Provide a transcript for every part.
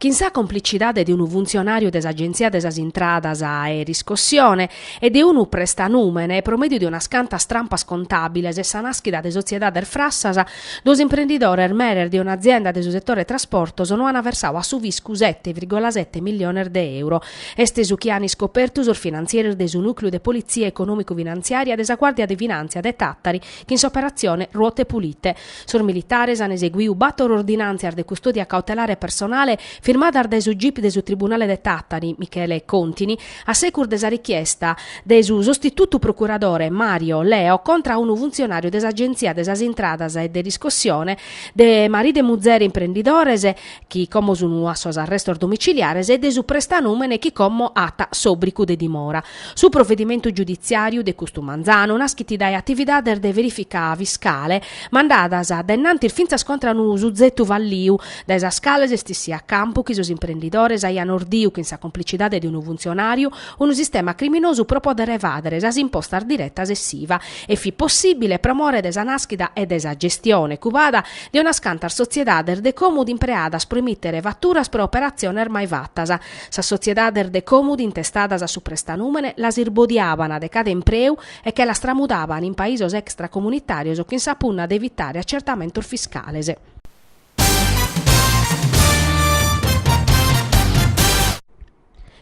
Chin sa complicidade de unu funtzionàriu de s'Agenzia de sas Intradas e Riscossione e de unu prestanùmene, pro mèdiu de unas cantas trampas contàbiles e sa nàschida de sotziedades frassas, duos imprendidores meres de un'azienda de su setore trasportos no ant versau a su fiscu sete virgola sete milliones de euro. Est su chi ant iscopertu sos finantzieres de su Nùcleu de Politzia Econòmicu-Finantziària de sa Guàrdia de Finàntzia de Tàtari chin s'operatzione Ruote Pulite, Sos militares an eseguiu bàtor ordinàntzias de custòdia cautelare personale firmadas dae su gip de su tribunale de Tàtari, Michele Contini, a secus de sa richiesta de su sostitutu procuradore Mario Leo contra a unu funtzionàriu de s'Agenzia de sas Intradas e de riscossione de maridu e muzere imprendidores chi como sun a sos arrestos domiciliares e de su prestanùmene chi como at s'òbricu de dimora Su provedimentu giuditziàriu de custu manzanu naschit dae atividades de verìfica fiscale mandadas dae innantis fintzas contra unu suzetu falliu, dae sas cales est issiu a campu chi sos imprendidores aian ordiu chin sa complicidade de unu funtzionàriu unu sistema criminosu pro pòdere evàdere sas impostas diretas e s'Iva e fit possìbile pro more de sa nàschida e de sa gestione cubada de unas cantas sotziedades de còmudu impreadas pro emìtere faturas pro operatziones mai fatas Sas sotziedades de còmudu intestadas a su prestanùmene las irbodiaban de cada impreu e che las tramudaban in paisos extracomunitàrios chin sa punna de evitare acertamentos fiscales.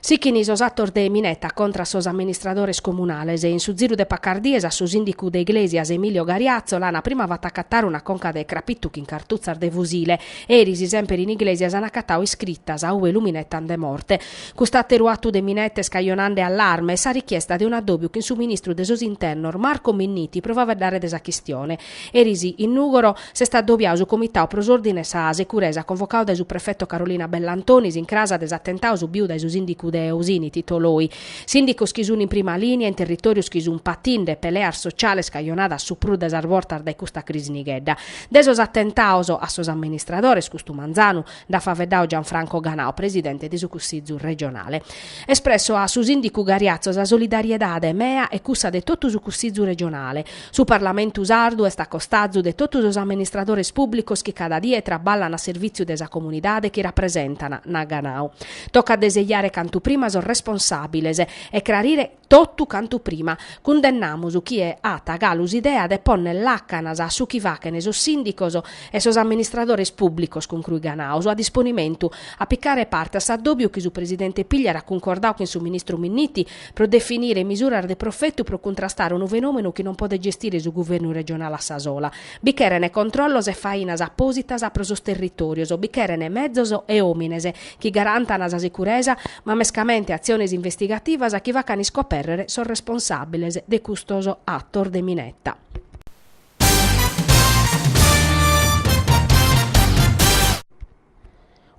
Sichint sos atos de mineta contra a sos amministradores comunales. In su ziru de pacas dies a su sìndicu de Iglesias Emilio Gariazzo l'ana prima fata acatare una conca de crapitu chin cartutzas de fusile. Eris, semper in Iglesias an acatau iscritas, ue lu minetan de morte. Cust'àteru atu de mineta est cajonande allarme e sa richiesta de un'addòbiu chin su ministru de sos Internos Marco Minniti pro faveddare de sa chistione. Eris in Nùgoro s'est addobiau su Comitau pro s'Òrdine e sa Securesa convocau dae su prefeto Carolina Bellantoni s'incrasa de s'atentau subiu dae su sìndicu de Osini Tito Loi. Sìndicos chi sunt in prima lìnia in territòrios chi sunt patinde peleas sociales cajonadas su prus de sas bortas dae custa crisi nighedda. De sos atentaos a sos amministradores custu manzanu nd'at faveddau Gianfranco Ganau, presidente de su Cussizu regionale. Espresso a su sìndicu Gariazzo sa solidariedade mea e cussa de totu su Cussizu regionale. Su Parlamentu sardu est a costazu de totu sos amministradores pùblicos chi cada die traballan a servìtziu de sa comunidade chi rapresentan, nat Ganau. Tocat de sejare cantu prima sos responsàbiles e crarire, Totu cantu prima, cundennamus chie at galu s'idea de ponner làcanas a su chi fachent sos sìndicos e sos amministradores pùblicos concruit Ganau, a disponimentu a picare parte a s'addòbiu chi su presidente Pigliaru at cuncordadu chin su ministru Minniti pro definire misuras de profetu pro cuntrastare unu fenòmenu chi non podet gestire su guvernu regionale a sa sola. Bi cherent controllos e fainas apòsitas pro sos territòrios, bi cherent mezos e òmines, chi garantan sa sicuresa, ma mescamente atziones investigativas chi facan iscopèrrere sos responsàbiles de custos atos de mineta.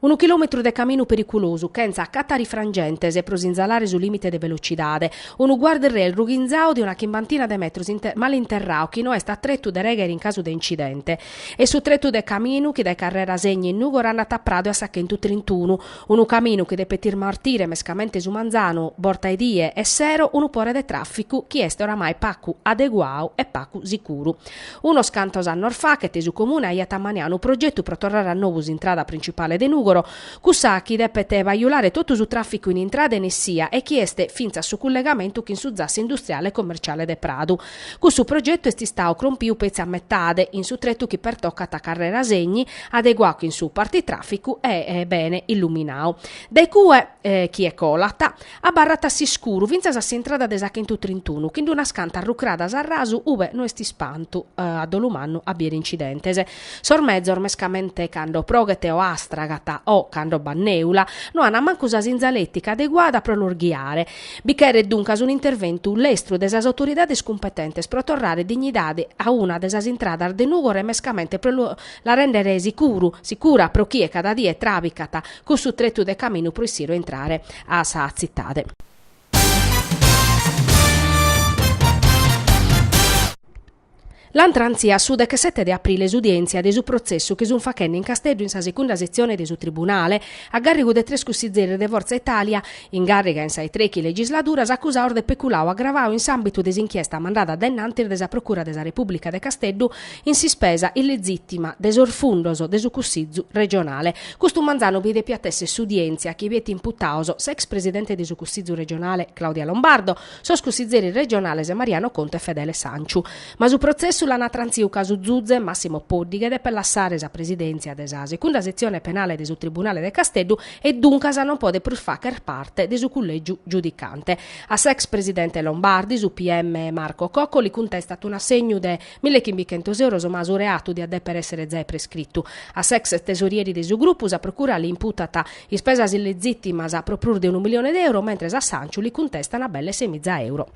Unu chilòmetru de caminu periculosu, chentza catarifrangentes pro sinzalare su lìmite de velocidade. Unu guard-rail rughinzadu de una chimbantina de metros male interradu chi no est a tretu de règhere in casu de incidente. Est su tretu de caminu chi dae Carrera Segni in Nùgoro andat a Pradu e a sa chentu trintunu, unu caminu chi depet ismartire mescamente su manzanu, borta 'e die e sero, unu pore de tràficu chi est oramai pacu adeguadu e pacu sicuru. Unos cantos annos fachet su Comune aiat ammaniadu unu progetu pro torrare a nobu s'intrada printzipale de Nùgoro, cussa chi depet bajulare totu su tràficu in intrada e in essia e chi est fintzas su cullegamentu chin su zassu industriale e commerciale de Pradu. Cussu progetu est istadu crompiu petzi a metade, in su tretu chi pertocat a Carrera Segni, adeguadu chin su partitraficu e bene illuminadu. Dae cue, chie colat, abarrat a s'iscuru fintzas a s'intrada de sa chentu trintunu, chin d'unas cantas rucradas a rasu ube no est ispantu a dolu mannu a bier incidentes. Sos mezos, mescamente cando proghet o astragat o cando b'at neula, no an mancu sa sinzaletica adeguada pro los ghiare, Bi cheret duncas un'interventu lestru de sas autoridades cumpetentes pro torrare dignidade a una de sas intradas de Nùgoro e mescamente pro la rèndere sicuru, sicura pro chie cada die tràbicat cussu tretu de caminu pro issire o intrare a sa tzitade. L'ant trantzia a su dechesete de aprile s'udièntzia de su protzessu chi sunt faghende in Casteddu in sa segunda setzione de su tribunale a gàrrigu de tres cussizeris de Fortza Italia in càrriga in sa 'e trechi legisladuras, acusados de peculadu agravadu in s'àmbitu de s'inchiesta mandada dae innantis de sa Procura de sa Repùblica de Casteddu in s'ispesa illezìtima de sos fundos de su Cussizu regionale. Custu manzanu bi depiat èssere s'udièntzia chi biet imputados s'ex presidente de su Cussizu regionale Claudia Lombardo, sos cussizeris regionales Mariano Contu e Fedele Sanciu. Ma su protzessu l'ana trantziu ca su zuze Massimo Poddighe depet lassare sa presidèntzia de sa Segunda Setzione Penale de su Tribunale de Casteddu e duncas non podet prus facher parte de su cullègiu giudicante. A s'ex presidente Lombardi su PM Marco Cocco li cuntestat un'assegnu de mille e chimbichentos euros ma su reatu diat dèpere èssere giai prescritu. A s'ex tesorieri de su grupu sa procura li imputat Ispesas illegittimas pro prus de unu milione de euro, mentres a Sanciu li cuntestan belle semiza euro.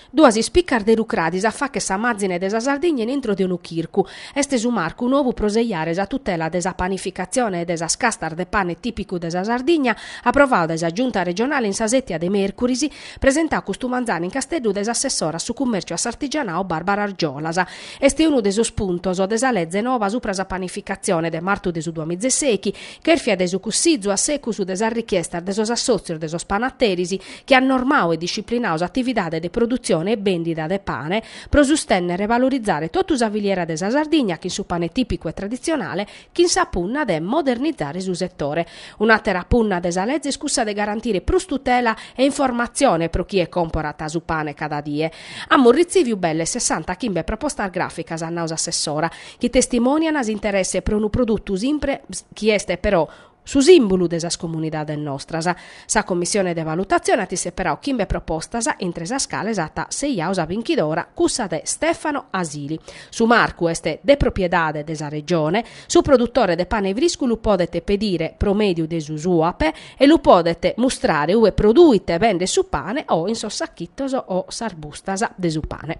Duas ispicas de rucradis a facher sa mazine de sa Sardigna in intro de unu chircu. Est su marcu nobu pro sejare sa tutela de sa panificatzione e de sas castas de pane tìpicu de sa Sardigna, aprovadu dae sa Giunta regionale in sa sètia de mèrcuris, presentau custu manzanu in Casteddu dae s'assessora a su cummèrciu a s'artigianau Barbara Argiolas. Est unu de sos puntos de sa Leze nova supra sa panificatzione de martu de su duamizeseichi chèrfia dae su cussizu a secus de sas richiestas de sos assòtzios de sos panateris chi at normau e disciplinau s'atividade de produtzione e bèndida de pane pro sustènnere e valorizare totu sa filiera de sa Sardigna chin su pane tìpicu e traditzionale chin sa punna de modernizare su setore. Un'àtera punna de sa leze est cussa de garantire prus tutela e informatzione pro chie comporat su pane cada die. Amus retziviu belle sessanta chimbe propostas gràficas, at nau s'assessora, chi testimònian s'interesse pro unu produtu simpre chi est però su sìmbulu de sas comunidades nostras. Sa commissione de valutatzione at isseperau chimbe propostas, intre sas cales at sejau sa binchidora cussa de Stefano Asili. Su marcu est de propriedade de sa Regione, su produtore de pane friscu lu podet pedire pro mèdiu de su Suap e lu podet mustrare ue produit e bendet su pane o in sos sachitos o sas bustas de su pane.